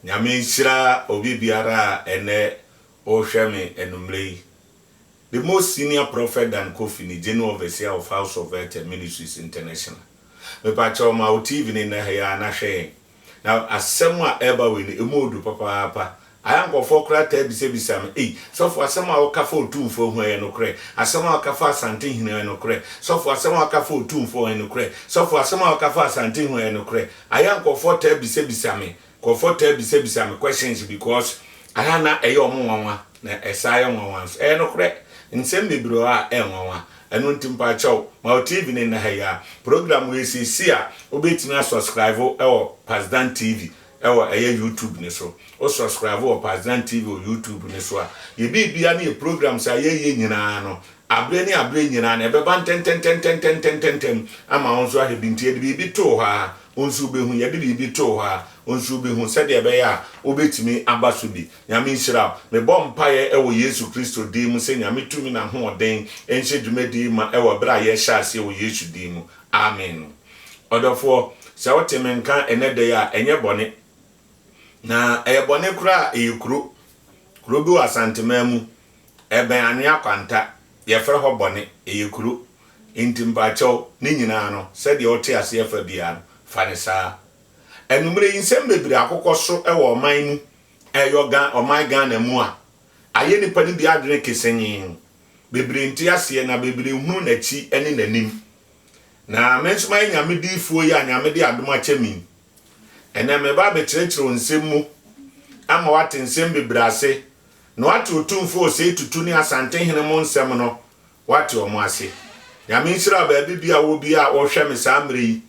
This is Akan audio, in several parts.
Nyame nhyira obi biara a ɛnɛ ɔrehwɛ me anummerɛ yi. The most senior prophet Dan Kofi ne General Overseer of House of Earth and Ministries International. Mepakyɛw ma wo TV no nnɛ ha yi ara na hwɛ yɛn. Na asɛm a ɛreba wei no, ɛmu ɔdu papaapa. Ayɛ nkurɔfoɔ koraa taa bisabisa me, ei, sɔfo asɛm a woka fa Otumfoɔ ho ɛyɛ nokorɛ? Asɛm a woka fa Asantehene ho ɛyɛ nokorɛ? Sɔfo asɛm a woka fa Otumfoɔ ho ɛyɛ nokorɛ? Sɔfo asɛm a woka fa Asantehene ho ɛyɛ nokorɛ? Ayɛ a nkurɔfoɔ taa bisabisa me nkurɔfoɔ taa bisabisa me questions because ayɛ a na ɛyɛ wɔn nwanwa na ɛsaa yɛ nwanwa nso. Ɛyɛ nokorɛ, nsɛm bebree wɔ hɔ a ɛyɛ nwanwa. Ɛno nti mpakyɛw ma wo TV no nna ha yi ara. Program wei sɛ ɛsi a, wobɛtumi a subscribe wɔ Pasdan TV wɔ ɛyɛ YouTube no so. Wo subscribe wɔ Pasdan TV wɔ YouTube no so a, yɛ biribiara ne yɛ programs a yɛyɛ nyinaa no, Aberɛ ne aberɛ nyinaa no, ɛbɛba ntɛntɛntɛntɛntɛntɛntɛntɛm ama wo nso ahwɛ bi. Nti yɛde biribi too hɔ ara, wo nso wobɛhu. Yɛde biribi too hɔ ara, wo nso wobɛhu, sɛdeɛ ɛbɛyɛ a wobɛtumi aba so bi. Nyame nhyira wo. Mebɔ mpaeɛ wɔ Yesu Kristo din mu sɛ Nyame tumi na ahoɔden nhyɛ dwumadie yi ma wɔ berɛ a yɛrehyɛ aseɛ wɔ Yesu din mu. Amen. Ɔdɔfoɔ, sɛ wote me nka ɛnnɛ da yi a, ɛnyɛ bɔne. Na ɛyɛ bɔne koraa a, ɛyɛ kuro. Kuro bi wɔ Asanteman mu. Ɛbɛn anwea kwanta, yɛfrɛ hɔ bɔne, ɛyɛ kuro. Nti mpakyɛw, ne nyinaa no, sɛdeɛ wote aseɛ fa biara no, fa no saa. Anwummerɛ yi, nsɛm bebree akokɔ so wɔ ɔman mu, ɛyɔ Gha, ɔman Ghana mu a, ayɛ nnipa no bi adwene kesenyee. Bebree nte aseɛ, na bebree nhunu n'akyi ne n'anim. Na me nso mayɛ Nyame diyifoɔ yi a Nyame de adom akyɛ me yi. Ɛnnɛ, mereba abɛkyerɛkyerɛ wo nsɛm mu, ama woate nsɛm bebree ase, Na wate Otumfo Osei Tutu ne Asante hene mo nsɛm no, wate wɔn ase. Nyame nhyira wo baabi biaa wɔ biaa a wohwɛ me saa mmerɛ yi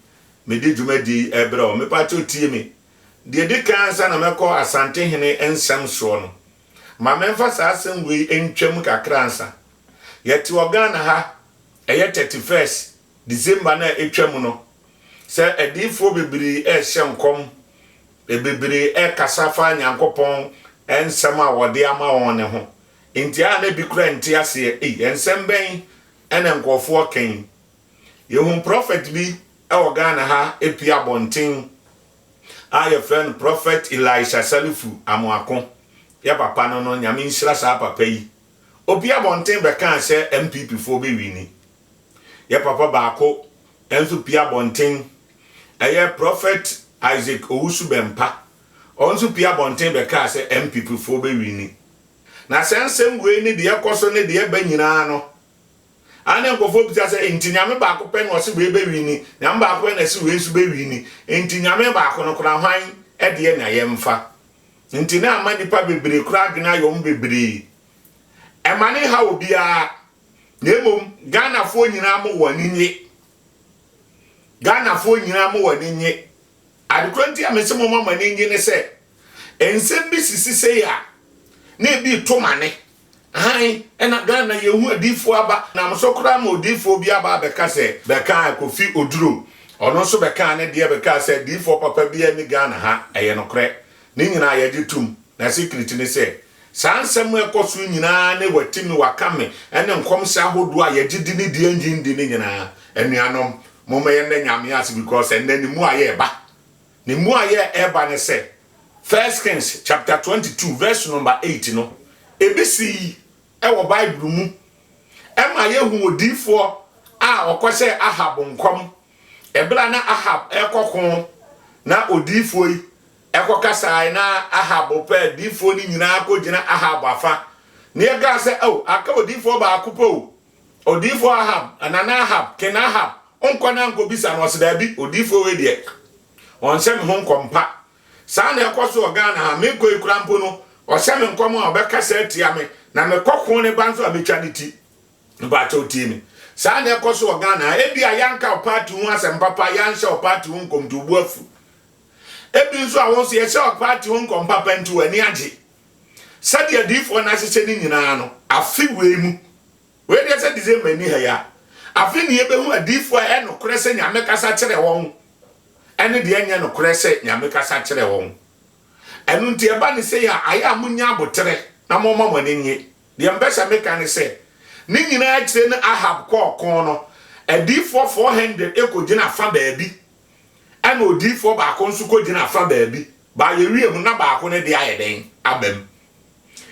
mede dwumadie yi rebrɛ wo. Mepakyɛw tie me. Deɛ ɛdi kan ansa na mɛkɔ Asante hene nsɛm soɔ no, ma menfa saa asɛm wei ntwa mu kakra ansa. Yɛte wɔ Ghana ha, ɛyɛ thirty first December no a ɛtwa mu no, sɛ adiyifoɔ bebree rehyɛ nkɔm Bebree rekasa fa Nyankopɔn nsɛm a ɔde ama wɔn no ho. Enti a na bi koraa nte aseɛ, Ei, nsɛm bɛn na nkurɔfoɔ reka yi? Yɛhuu prɔfɛt bi wɔ Ghana ha pue abɔnten a yɛfrɛ no Prɔfɛt Elisha Salifu Amoako. Yɛ papa no no, Nyame nhyira saa papa yi. Ɔpue abɔnten bɛkaa sɛ MPPfoɔ bɛwini. Yɛ papa baako nso pue abɔnten. Ɛyɛ Prɔfɛt Isaac Owusu-Bempah. Ɔno nso pue abɔnten bɛkaa sɛ NPPfoɔ bɛwini. Na saa nsɛm wei ne deɛ ɛkɔ so ne deɛ ɛba nyinaa no, a na nkurɔfoɔ bisa sɛ, enti Nyame baako pɛ na ɔse wei bɛwini, Nyame baako pɛ na ɛse wei nso bɛwini, enti Nyame baako no koraa hwan deɛ na yɛmfa? Enti na ama nnipa bebree koraa adwene ayɛ wɔn bebree. Ɛma no nhaw obiara, Na mmom Ghanafoɔ nyinaa mo wɔn ani nye. Ghanafoɔ nyinaa mo wɔn ani nye. Adekorɔ nti a mese moma mo ani nye ne sɛ, nsɛm bi sisi sei a, na ebi reto mane. Ahan, ɛna Ghana yɛhu adiyifoɔ aba. Nam so koraa ma odiyifoɔ bi aba abɛka sɛ, bɛkaa Kofi Oduro, ɔno nso bɛkaa ne deɛ bɛkaa sɛ adiyifoɔ papa biara nni Ghana ha. Ɛyɛ nokorɛ. Ne nyinaa yɛgye tom. Na secret ne sɛ, Saa nsɛm a ɛkɔ so yi nyinaa ne Wati me, Waka me ne nkɔmhyɛ ahodoɔ a yɛgye di ne deɛ yɛnnye nni no nyinaa. Anuanom, momma yɛnnɛ Nyame ase because ɛnnɛ ne mmuaeɛ reba. Ne mmuaeɛ a ɛreba ne sɛ, First Kings chapter 22 verse number 8 no, ebi sii wɔ Bible mu. Ɛma yɛhu odiyifoɔ a ɔkɔhyɛɛ Ahab nkɔm. Ɛberɛ a na Ahab rekɔko na odiyifoɔ yi Ɛkɔka saae na Ahab pɛ adiyifoɔ no nyinaa kɔgyina Ahab afa, ne ɛkaa sɛ, Ao, aka odiyifoɔ baako pɛ o, odiyifoɔ Ahab, nana Ahab, King Ahab, nkɔ na nkɔbisa no, ɔse, Daabi, odiyifoɔ wei deɛ, ɔnhyɛ me ho nkɔm pa, saa na ɛkɔ so wɔ Ghana ha, mekɔ yi koraa mpo no, ɔhyɛ me nkɔm a, ɔbɛkasa atia me, na mekɔ ko ne ba nso a, mɛtwa ne ti. Mpakyɛw tie me. Saa na ɛkɔ so wɔ Ghana ha. Ebia yɛanka wo party ho asɛm papa, yɛanhyɛ wo party ho nkɔm nti wo bo afu. Ebi nso a wo nso yɛhyɛ wo party ho nkɔm papa nti w'ani agye. Sɛdeɛ adiyifoɔ no ahyehyɛ no nyinaa no, afe wei mu, wei deɛ sɛ December nni ha yi a, afe ne yɛbɛhu adiyifoɔ a ɛyɛ nokorɛ sɛ Nyame kasa kyerɛ wɔn ɛne deɛ ɛnyɛ nokorɛ sɛ Nyame kasa kyerɛ wɔn. Ɛno nti ɛba no sei a, ayɛ a monnya aboterɛ na momma mo ani nnye. Deɛ mpɛ sɛ meka ne sɛ, ne nyinaa akyire no Ahab kɔɔ ɔko no, adiyifoɔ four hundred kɔgyina afa baabi, ɛna odiyifoɔ baako nso kɔgyina afa baabi, but yɛwie mu na baako no deɛ ayɛ dɛn? aba mu.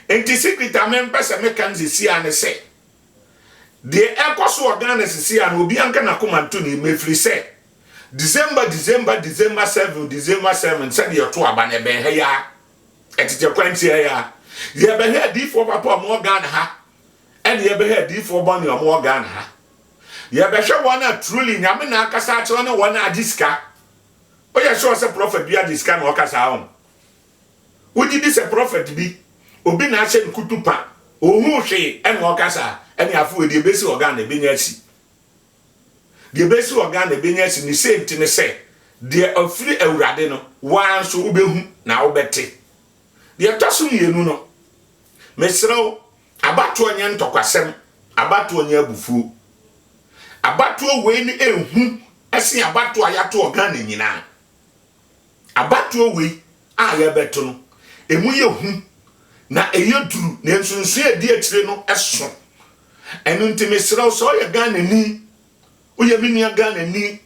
Nti secret a mempɛ sɛ meka no sisi ara ne sɛ, deɛ ɛkɔ so wɔ Ghana sisi ara no, obiara nka n'akoma nto ne yam, ɛfiri sɛ, December, December, December seven, December seven, sɛdeɛ yɛto aba no, ɛbɛn ha yi ara. Ɛtetɛ kwan tiaa yi ara, yɛbɛhwɛ adiyifoɔ papa a wɔwɔ Ghana ha ɛne yɛbɛhwɛ adiyifoɔ bɔne a wɔwɔ Ghana ha. Yɛbɛhwɛ wɔn a truly Nyame na akasa akyerɛ wɔn ne wɔn a agye sika. Woyɛ sure sɛ prophet bi agye sika na ɔka saa ho? Wogye di sɛ prophet bi, obi na ahyɛ no kutupa, ohuu hwee ɛna ɔka saa? Ɛne afei wei deɛ ebesi wɔ Ghana, ebenya asi. Deɛ bɛsi wɔ Ghana ɛbɛnya asi ne sei nti ne sɛ deɛ ɔfiri Awurade no woaa nso wobɛhu na wobɛte. Deɛ ɛtɔ so mmienu no mesrɛ wo abatoɔ nyɛ ntɔkwasɛm abatoɔ nyɛ abufuo abatoɔ wei no ɛhu ɛsen abatoɔ a yɛato wɔ Ghana nyinaa. Abatoɔ wei a yɛrebɛto no, ɛmu yɛ hu na ɛyɛ duru na nsonsonoeɛ a ɛdi akyire no so. Ɛno nti mesrɛ wo sɛ woyɛ Ghanani, woyɛ me nua Ghanani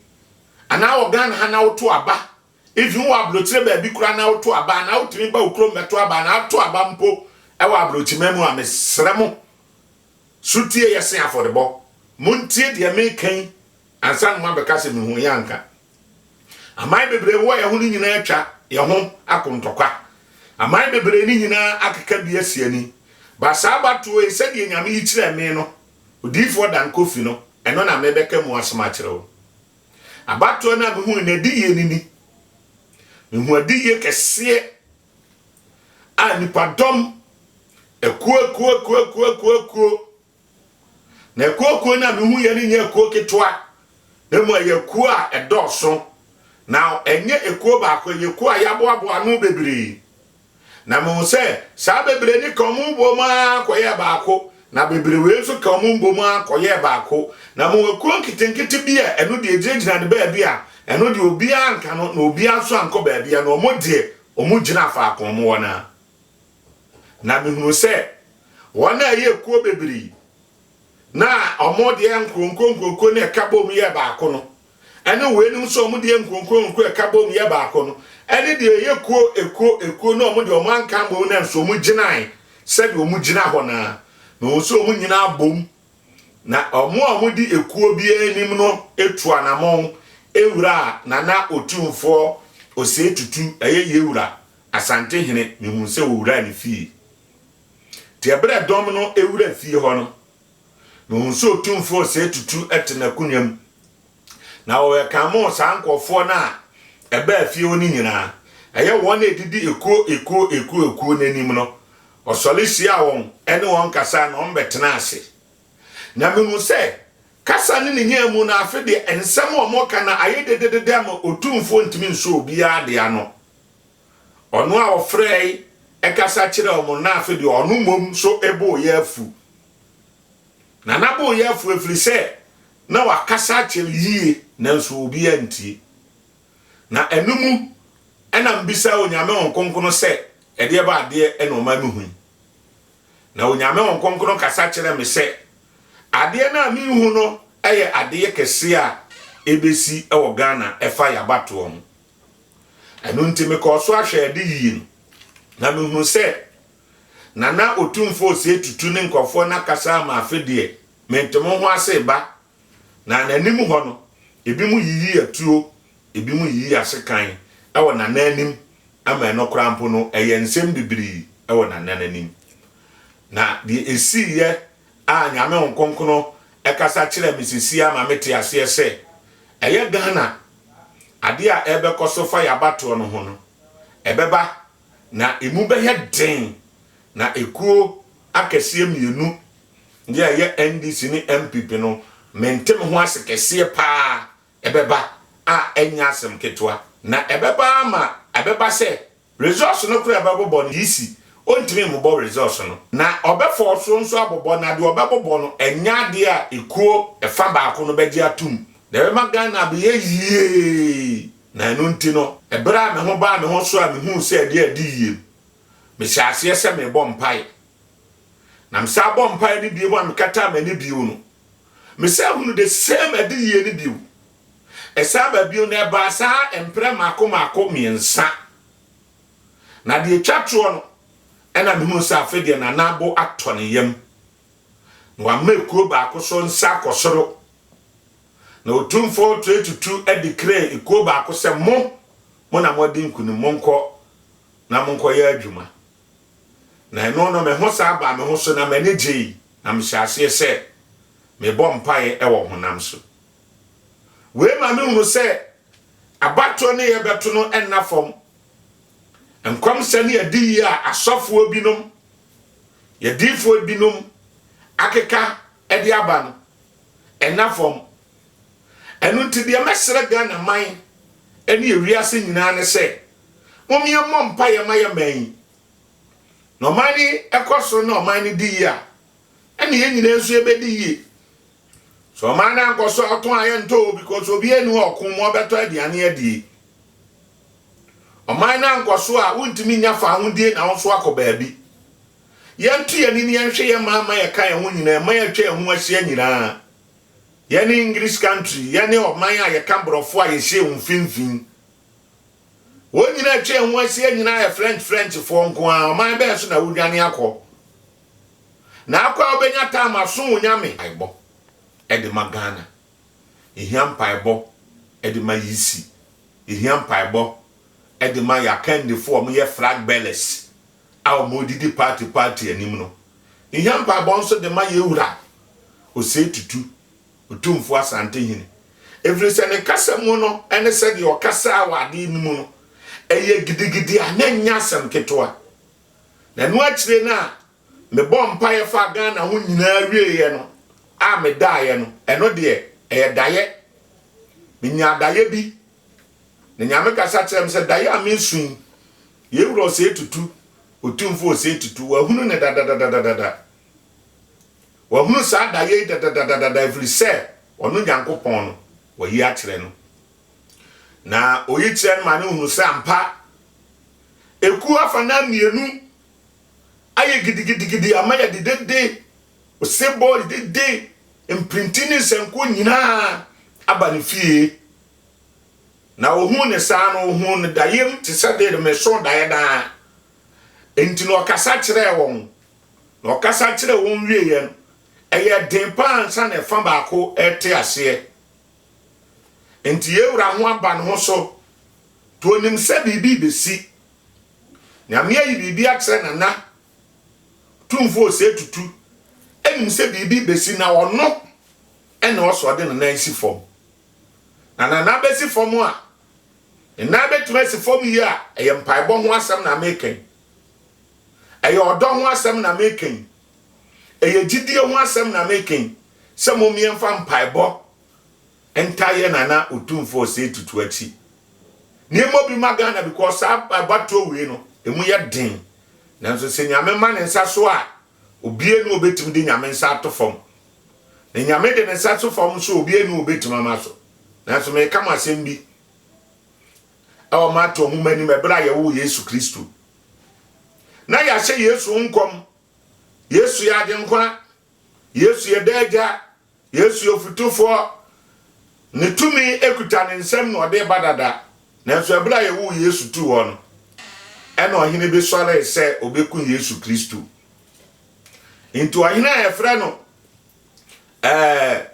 anaa wɔ Ghana ha na woto aba, even wowɔ aburokyire baabi koraa na woto aba anaa wotumi ba wo kurom bɛto aba anaa ato aba mpo wɔ aburokyiman mu a, mesrɛ mo, sotie yɛse afɔrebɔ. Montie deɛ meka yi. Ansa na moabɛka sɛ mehuu yɛn anka aman bebree wowɔ yɛn ho no nyinaa atwa yɛn ho ako ntɔkwa, aman bebree no nyinaa akeka bi asi ani. Ba saa abatoɔ yi, sɛdeɛ Nyame yi kyerɛɛ me no, odiyifoɔ Dan Koffi no, ɛno na mebɛka mu asɛm akyerɛ wo. Abatoɔ no a mehui no adiyie no ni, Mehu adiyie kɛseɛ a nnipadɔm akuo akuo akuo akuo akuo akuo, Na akuokuo no a mehuiɛ no nyɛ akuo ketewa, na mmom ɛyɛ akuo a ɛdɔɔso. Na ɛnyɛ ekuo baako, ɛyɛ ekuo a yɛaboaboa ano bebree. Na mehu sɛ saa bebree no ka wɔn boom ara kɔyɛɛ baako, na bebree wei nso ka wɔn boom ara kɔyɛɛ baako. Na mehu akuo nketenkete bi a ɛno deɛ ɛgyinagyina ne baabi a ɛno deɛ obiara anka no, na obiara nso ankɔ baabiara, na wɔn deɛ wɔgyina faako a wɔwɔ no ara. Na mehunuu sɛ wɔn a ɛyɛ kuo bebree na wɔn deɛ nkuronkuronkurokuo no ɛka bom yɛ baako no, ɛne weinom nso wɔn deɛ nkuronkuronkuo ɛka bom yɛ baako no, ɛne deɛ ɛyɛ kuo ekuo ekuo na wɔn deɛ wɔn anka mmom na nso wɔn gyinae sɛdeɛ wɔn gyina hɔ naa, na wɔn nso wɔn nyinaa bom, na wɔn a wɔdi ekuo biara anim no etu anamɔn ewura Nana Otumfoɔ Osei Tutu ɛyɛ Yewura Asante hene mehuu sɛ ɔwuraa ne fie. Nti ɛberɛ dɔm no wuraa fie hɔ no, mehuu sɛ Otumfoɔ Osei Tutu te n'akonwa mu. Na wɔwɛkamoo saa nkorɔfoɔ no a ɛbaa fie hɔ no nyinaa. Ɛyɛ wɔn a ɛdidi ekuo ekuo ekuo ekuo no anim no, ɔsɔre hyiaa wɔn ne wɔn kasaa na wɔbɛtenaa ase. Na mehuu sɛ kasa ne ne nyaa mu no afe deɛ nsɛm a wɔreka no ayɛ dededede ama Otumfoɔ ntumi nso obiara deɛ ano. Ɔno a ɔfrɛe kasa kyerɛɛ wɔn na afe deɛ ɔno mmom so boo yɛ afu. Na na boo yɛ afu ɛfiri sɛ na wakasa akyerɛ yie nanso obi antie. Na ɛno mu na mbisaa Onyame Hon Kronkron sɛ ɛdeɛ ba adeɛ na ɔma mehu yi. Na Onyame Hon Kronkron kasa kyerɛ me sɛ adeɛ no a mehu no yɛ adeyɛ kɛseɛ a ɛbɛsi wɔ Ghana ɛfa yɛ abatoɔ ho. Ɛno nti mekɔɔ so ahwɛ ade yiye no, na mihuu sɛ na na Otumfo Osei Tutu ne nkurɔfoɔ no akasa ama afe deɛ mente mo ho ase reba, na n'anim hɔ no, ebinom yiyi atuo, ebinom yiyi asekan wɔ n'anananim, ama ɛno koraa mpo no, ɛyɛ nsɛm bibiri wɔ n'anananim. Na deɛ esiiɛ a Nyame Hon Kronkron ɛkasa kyerɛ me sesie ama me te aseɛ sɛ ɛyɛ Ghana adeɛ a ɛbɛkɔ so fa yɛ abatoɔ no ho no ɛbɛba na ɛmu bɛyɛ den na ɛkuo akɛseɛ mmienu deɛ ɛyɛ NDC ne NPP no mente me ho ase kɛseɛ paa ɛbɛba a ɛnyɛ asɛm ketewa na ɛbɛba ama ɛbɛba sɛ Resource no koro a ɛbɛbobɔ no yisi, ontumi mmobɔ resource no. Na ɔbɛfɔɔ so nso abobɔ, na deɛ ɔbɛbobɔ no ɛnyɛ adeɛ a ekuo ɛfa baako no bɛgye atom. Na ɛbɛma Ghana abeyɛ yie. Na ɛno nti no, ɛberɛ a me ho baa me ho so a mehuu sɛ adeɛ adi yie no, mehyɛɛ aseɛ sɛ merebɔ mpaeɛ. Na mesan bɔɔ mpaeɛ no bio a mekataa m'ani bio no, mesan hunu the same adiyie no bio. Ɛsan ba bio no, ɛbaa saa mprɛ mmaako mmaako mmiɛnsa. Na deɛ ɛtwa toɔ no, ɛna mehunuu sɛ afei deɛ Nana Abo atɔ ne yam, na wama ekuo baako so nsa akɔ soro. Na Otumfoɔ Tue Tutu declaree ekuo baako sɛ, Mo, mo na moadi nkunim, monkɔ na monkɔyɛ adwuma. Na ɛno no, me ho san baa me ho so, na m'ani gyei, na mehyɛɛ aseɛ sɛ mebɔ mpaeɛ wɔ honam so. Wei ma mehunu sɛ abatoɔ no yɛbɛto no nna fam. Nkɔmhyɛ ne adiyie a asɔfoɔ binom, yɛdiifoɔ binom akeka de aba no, ɛnna fam. Ɛno nti deɛ mɛsrɛ Ghana man ne ewiase nyinaa ne sɛ, mom yɛmmɔ mpaeɛ ma yɛ man yi. Na ɔman no kɔ soro na ɔman no di yie a, ɛnna yɛn nyinaa nso yɛbɛdi yie. So ɔman no ankɔ so atõ a yɛntɔ o because obiara nni hɔ a ɔko ma ɔbɛtɔ aduane adie? Ɔman no ankɔ so a wontumi nnya fahodie na wo nso akɔ baabi? Yɛnto yɛn ani na yɛnhwɛ yɛn man ma yɛka yɛn ho nyinaa mma yɛatwa yɛn ho ahyia nyinaa. Yɛne English country, yɛne ɔman a yɛka borɔfo a yɛhyɛ wɔn mfimfini. Wɔn nyinaa atwa yɛn ho ahyia nyinaa yɛ French Frenchfoɔ nko ara, ɔman bɛn so na wodwane akɔ? Na akɔ a wobɛnya time asom wo Nyame. Mpaebɔ de ma Ghana. Yɛhia mpaebɔ de ma EC. Yɛhia mpaebɔ de ma yɛ akandifoɔ a wɔyɛ flag bearers a wɔdidi party party anim no. Yɛhia mpaebɔ nso de ma yɛ Wura Osei Tutu, Otumfoɔ Asantehene. Ɛfiri sɛ ne kasa mu no ne sɛdeɛ ɔkasaa wɔ adeɛ no mu no, ɛyɛ gidigidi a na ɛnyɛ asɛm ketewa. Na ɛno akyire no a mebɔɔ mpaeɛ faa Ghana ho nyinaa wieeɛ no a medaeɛ no, ɛno deɛ ɛyɛ daeɛ. Menyaa daeɛ bi. Na Nyame kasa kyerɛɛ me sɛ, Daeɛ a meresu yi, yei werɛ ɔsɛe tutu, Otumfoɔ ɔsɛe tutu. Wahunu no dadadadadada. Wahunu saa daeɛ yi dadadadadada ɛfiri sɛ ɔno Nyankopɔn no, wayi akyerɛ no. Na ɔyi kyerɛ no ma no hunu sɛ ampa Ekuo afanan mmienu ayɛ gidigidigidi ama yɛde dede, osebɔ dede, mpirinti ne nsankuo nyinaa aba ne fie. Na ɔhuu ne saa no, ɔhuu no daeɛm te sɛ deɛ meso daeɛ daa. Enti na ɔkasa kyerɛɛ wɔn. Na ɔkasa kyerɛɛ wɔn wieeɛ no, ɛyɛ den paa ansa na ɛfa baako rete aseɛ. Enti yɛn Wura ho aba ne ho so, to onim sɛ biribi rebɛsi. Nyame ayi biribi akyerɛ Nana, Otumfoɔ Osei Tutu nim sɛ biribi rebɛsi na ɔno na ɔsɛ ɔde ne nan si fam. Na Nana bɛsi fam a, ne nan bɛtumi asi fam yie a, ɛyɛ mpaebɔ ho asɛm na meka yi. Ɛyɛ ɔdɔ ho asɛm na meka yi. Ɛyɛ gyidie ho asɛm na meke sɛ momeɛmfa mpaebɔ ntaa yɛ Nana Otumfoɔ Osei Tutu akyi. Nneɛma bi ma Ghana because saa abatoɔ wei no ɛmu yɛ den. Nanso sɛ Nyame ma ne nsa so a, obia ni ɔbɛtumi de Nyame nsa ato fam. Na Nyame de ne nsa to fam nso obia ni ɔbɛtumi ama so. Nanso meka mo asɛm bi ɛwɔ Mateo nwoma anim ɛberɛ a yɛwoo Yesu Kristo. Na yɛahyɛ Yesu ho nkɔm. Yesu yɛ Agyenkwa. Yesu yɛ Daa Agya. Yesu yɛ Ofotufoɔ. Ne tumi kuta ne nsam na ɔde reba dada. Nanso ɛberɛ a yɛwoo Yesu too hɔ no, ɛna ɔhene bi sɔree sɛ ɔbɛku Yesu Kristo. Enti ɔhene a yɛfrɛ no. ɛɛ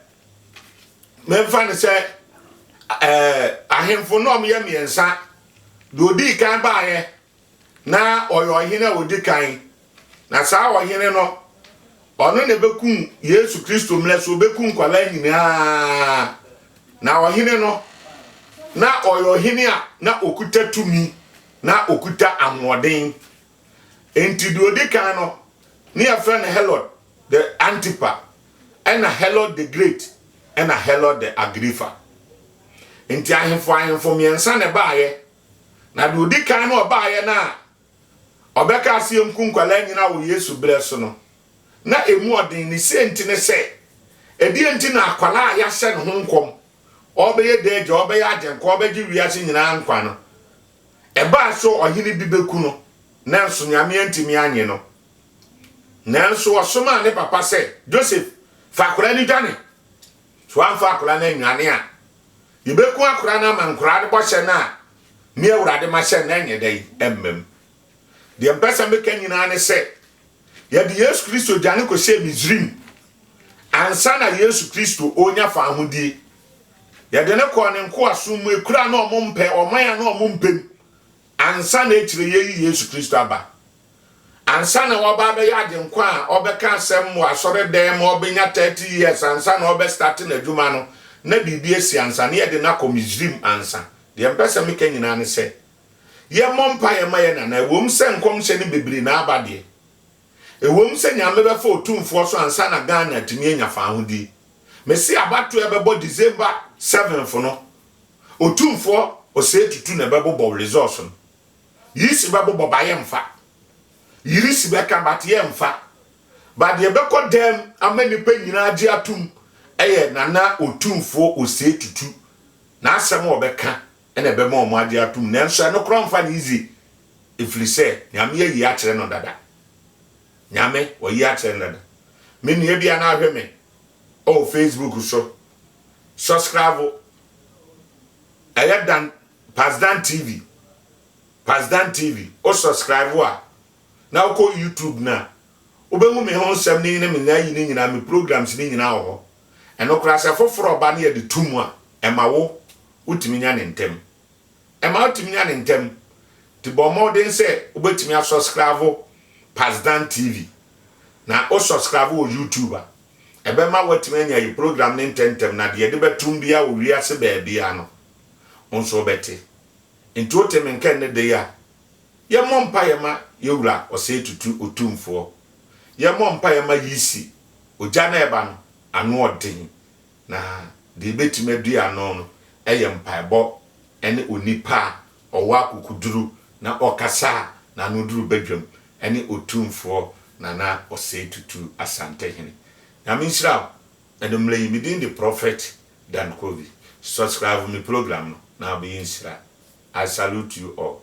mɛmfa no sɛ ɛɛ ahemfo no ɔmo yɛ mmiɛnsa deɛ odii kan baayɛ na ɔyɛ ɔhene a odi kan na saa ɔhene no ɔno na ɛbɛkum yesu kristo mmerɛ so ɔbɛkum nkwadaa nyinaa na ɔhene no na ɔyɛ ɔhene a na ɔkuta tumi na ɔkuta ahoɔden Enti deɛ ɔdi kan no, ne yɛfrɛ no Herod the Antipa, ɛna Herod the Great, ɛna Herod the Agrippa. Enti ahemfo ahemfo mmiɛnsa na ɛbaayɛ, na deɛ ɔdi kan no ɔbaayɛ no a ɔbɛka aseɛ nku nkwadaa nyinaa wɔ Yesu berɛ so no, na ɛmu ɔden. Ne sie nti ne sɛ, ɛdeɛ nti na akwadaa a yɛahyɛ ne ho nkɔm, ɔbɛyɛ daagya, ɔbɛyɛ agyenka, ɔbɛgye wiase nyinaa nkwa no, Ɛbaa sɛ ɔhene bi bɛku no, nanso Nyame antumi annye no. Nanso ɔsomaa ne papa sɛ, Joseph, fa akwadaa no dwane. Sɛ woamfa akwadaa no annwane a, yɛbɛku akwadaa no ama nkoraa no bɔhyɛ no a me Awurade mahyɛ no na ɛnyɛ dɛn? Ɛmmam. Deɛ mpɛ sɛ meka nyinaa ne sɛ, Yɛde Yesu Kristo dwane kɔhyɛɛ Misraim ansa na Yesu Kristo ɔrenya fawohodie. Yɛde no kɔɔ ne nkoasom mu, ɛkura na ɔmo mpɛ, ɔman a na ɔmo mpem, ansa na akyire yɛyi Yesu Kristo aba. Ansa na ɔba abɛyɛ agyenkwa a ɔbɛka asɛm wɔ asɔre dan mu, ɔbɛnya 30 years ansa na ɔbɛstate n'adwuma no, na biribi asi ansa, na yɛde no akɔ Misraim ansa. Deɛ mpɛ sɛ meka nyinaa ne sɛ, yɛmmɔ mpaeɛ mma yɛn anaa? Ɛwom sɛ nkɔmhyɛ no bebree na aba deɛ, ɛwom sɛ Nyame bɛfa Otumfoɔ so ansa na Ghana atumi anya faahodie. Mese abatoɔ a ɛbɛbɔ December seventh no, Otumfoɔ ɔsɛe tutu na ɛbɛbobɔ resource no. Yisi bɛbobɔ ba yɛmfa. Yisi bɛka but yɛmfa. But deɛ ɛbɛkɔ dam ama nnipa nyinaa agye atom ɛyɛ Nana Otumfoɔ ɔsɛe tutu n'asɛm a ɔbɛka na ɛbɛma wɔn agye atom, nanso ɛno koraa mfa no easy, ɛfiri sɛ Nyame ayi akyerɛ no dada. Nyame wayi akyerɛ no dada. Me nua bi a na ahwɛ me wɔ Facebook so, sɔskravo, ɛyɛ dan, Pasdan TV, Pasdan TV, wo sɔskravo a, na wokɔ YouTube no a, wobɛhu me ho nsɛm no ne me nyayi no nyinaa, me programs no nyinaa wɔ hɔ. Ɛno koraa sɛ foforɔ ba na yɛde to mu a, ɛma wo wotumi nya no ntɛm. Ɛma wotumi nya no ntɛm, nti bɔ mmɔden sɛ wobɛtumi asɔskravo Pasdan TV, na wosɔskravo wɔ YouTube a, ɛbɛma woatumi anya yi program no ntɛntɛm, na deɛ yɛde bɛtom biara wɔ wiase baabiara no, wo nso wobɛte. Nti wote me nka nnɛ da yi a, yɛmmɔ mpaeɛ ma yɛn Wura Ɔsɛe Tutu Otumfoɔ, yɛmmɔ mpaeɛ ma Yisi, Ogya no a ɛba no anoɔden, Na deɛ ɛbɛtumi adi ano no yɛ mpaebɔ ne onipa a ɔwɔ akokoduru na ɔkasa a n'ano duru badwam ne Otumfoɔ Nana Osei Tutu Asantehene. Nyame nhyira wo. Anwummerɛ yi, me din de Prophet Dan Kovi. Subscribe me program no na wobɛyɛ nhyira. I salute you all.